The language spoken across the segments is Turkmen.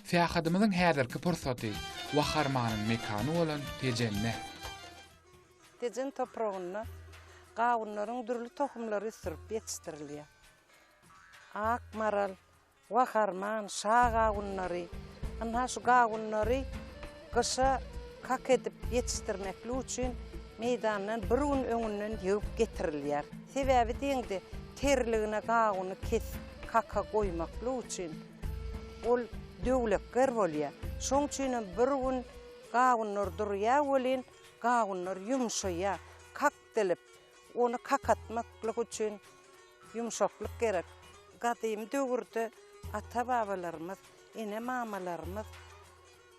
Syýahatymyzyň häzirki pursaty Waharmanyň mekany bolan Tejende. Tejen topragynda gawunlaryň dürli tohumlary ösdürip ýetişdirilýär. Ak maral, Waharman, Şa gawunlary. Ynha şu gawunlary gyşa kak edip ýetişdirmeklik üçin meýdandan bir gün öňünden ýygyp getirilýär. Sebäbi deňde terligine gawuny kesip kaka goýmaklyk üçin. Ol döwlekger bolýar. Şoň üçinem bir gün gawunlar durýar welin, gawunlar ýumşaýar, kak dilip, ony kakatmaklyk üçin ýumşaklyk gerek. Gadymy döwürde ata-babalarymyz, ene-mamalarymyz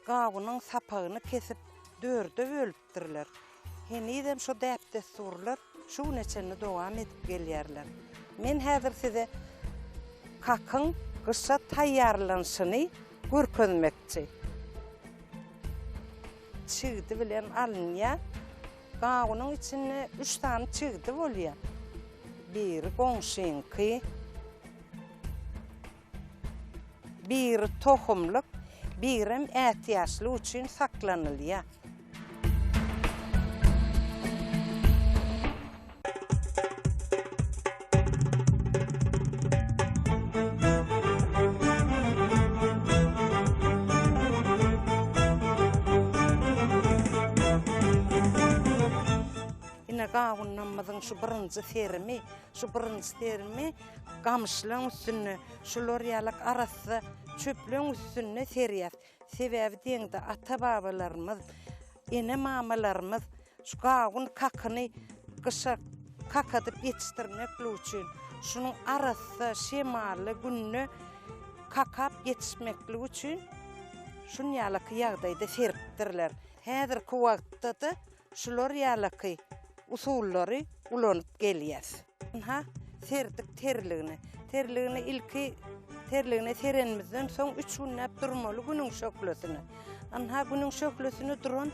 gawunyň sapagyny kesip, dörde bölüp, beripdirler. Henizem şo däp-dessurlar şu güne çenli dowam edip gelýärler. Men häzir size kakyň gyşa taýýarlanyşyny görkezmekçi. Çigdi bilen alynýar. Gawunyň içinde üç sany çigdi bolýar. Biri goňşyňky. Biri tohumlyk, birem ätiýaçlyk üçin saklanylýar. Ine, gawunlarymyzyň şu birinji serimi. Şu birinji serimi gamyşlaryň üstünde, şular ýaly arassa çöpleriň üstünde serýär. Sebäbi diýende ata-babalarymyz, ene-mamalarymyz şu gawun kakyny gyşa kakadyp ýetişdirmeklik üçin, şunuň arassa, şemally günde kakap ýetişmeklik üçin şunýalyk ýagdaýda seripdirler. Häzirki wagtda-da Şular ýalaky usullary ulanyp gelýäs. Ynha, serdik terligine. Terligine ilki terligine serenimizden soň üç günläp durmaly günüň şöhlesine. Ynha, günüň şöhlesine duran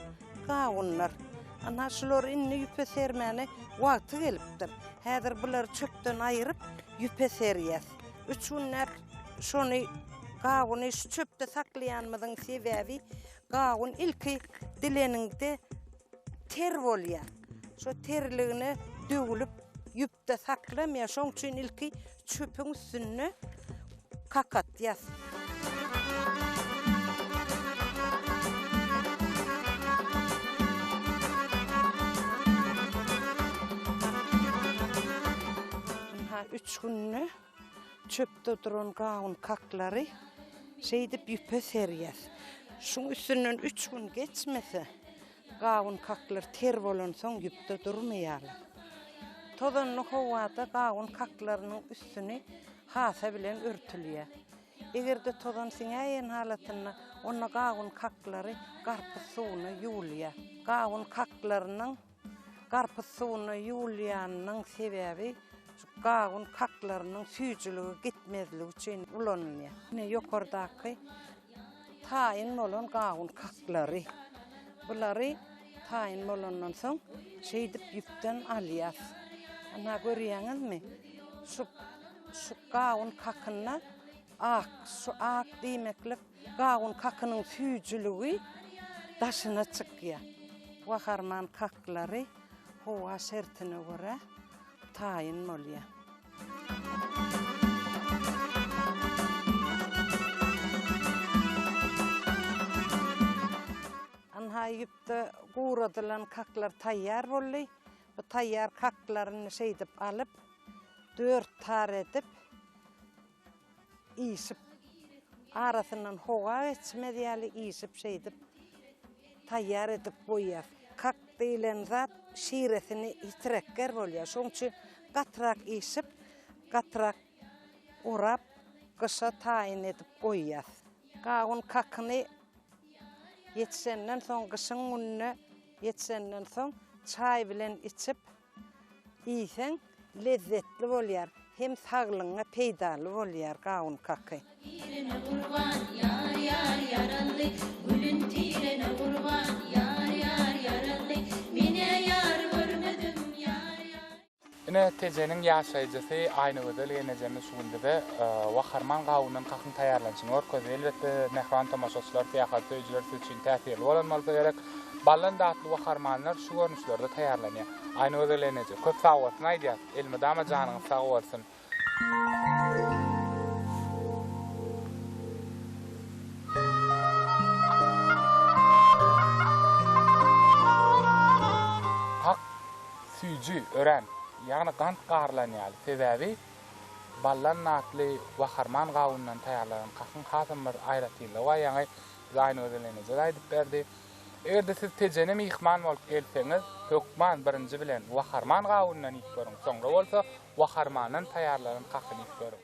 gawunlar. Ynha, şular indi ýüpe sermäne wagty gelipdir. Häzir bulary çöpden aýryp, ýüpe serýäs. Üç günläp şony, gawuny şu çöpde saklaýanymyzyň sebäbi, Gawun ilki dileniňde ter bolýar. Şo terligine döwülip ýüpde saklanmaýar. Şoň üçin ilki çöpüň üstünde kakatýas. Üç günde Çöpde duran gawun kaklary şeýdip ýüpe serýär. Şuň üstünden üç gün geçmese, gawun kaklar ter bolansoň ýüpde durmaýarlar. Tozanly howada gawun kaklarynyň üstüni hasa bilen örtülýär. Eger-de tozan siňäýen halatynda, onda gawun kaklary garpyz suwuna ýuwulýar. Gawun kaklarynyň Garpyz suwuna ýuwulýanynyň sebäbi şu gawun kaklarynyň süýjüligi gitmezligi üçin ulanylýar. Ine ýokardaky taýyn bolan gawun kaklary. Bulary taýyn bolandan soň şeýdip ýüpden alýas. Ana görýäňizmi? Şu şu gawun kakynda ak, şu ak diýmeklik Gawun kakynyň süýjüligi daşyna çykýar. Gaharman kaklary howa şertine görä taýyn bolýar. Ynha, ýüpde guradylan kaklar taýýar boldy. Bu taýýar kaklaryny şeýdip alyp, dört tar edip, Işip, arasyndan howa geçmez ýaly işip şeýdip taýýar edip goýýas. Kak diýlen zat şiresini ýitirekger bolýar. Şoň üçin gatyrak işip, gatyrak orap, gyşa taýyn edip goýýas. Gawun kakyny ýetişenden soň, gyşyň gününe ýetişenden soň çaý bilen içip, Iýseň lezzetli bolýar hem saglygyňa peýdaly bolýar gawun kaky. Tirene gurban ýar ýar ýaragly Gülün tirene gurban ýar ýar ýaragly Menä ýar görmedim ýar ýar. Ine Tejeniň ýaşaýjysy Aýnagözel ýenejemiz şu gün bize Waharman gawundan kakyň taýýarlanyşyny görkezdi. Elbetde mähriban tomaşaçylar, syýahat söýüjiler siz üçin täsirli bolan bolsa gerek. Baldan datly we harmanlar şu görnüşlerde taýýarlanýar. Aýnagözel eneje köp sagbolsun aýdýas. Elmydama janyňyz sag bolsun. Hak süýji örän ýagny gant garylan ýaly sebäbi baldan datly we harman gawundan taýýarlanan kakyň hasam bir aýratynlygy bar ýaňy Zaýny gözelleneje-de aýdyp berdi. Eger-de siz Tejene myhman bolup gelseňiz, hökman birinji bilen Waharman gawundan iýip görüň, soňra bolsa Waharmandan taýýarlanan kakyny iýip görüň.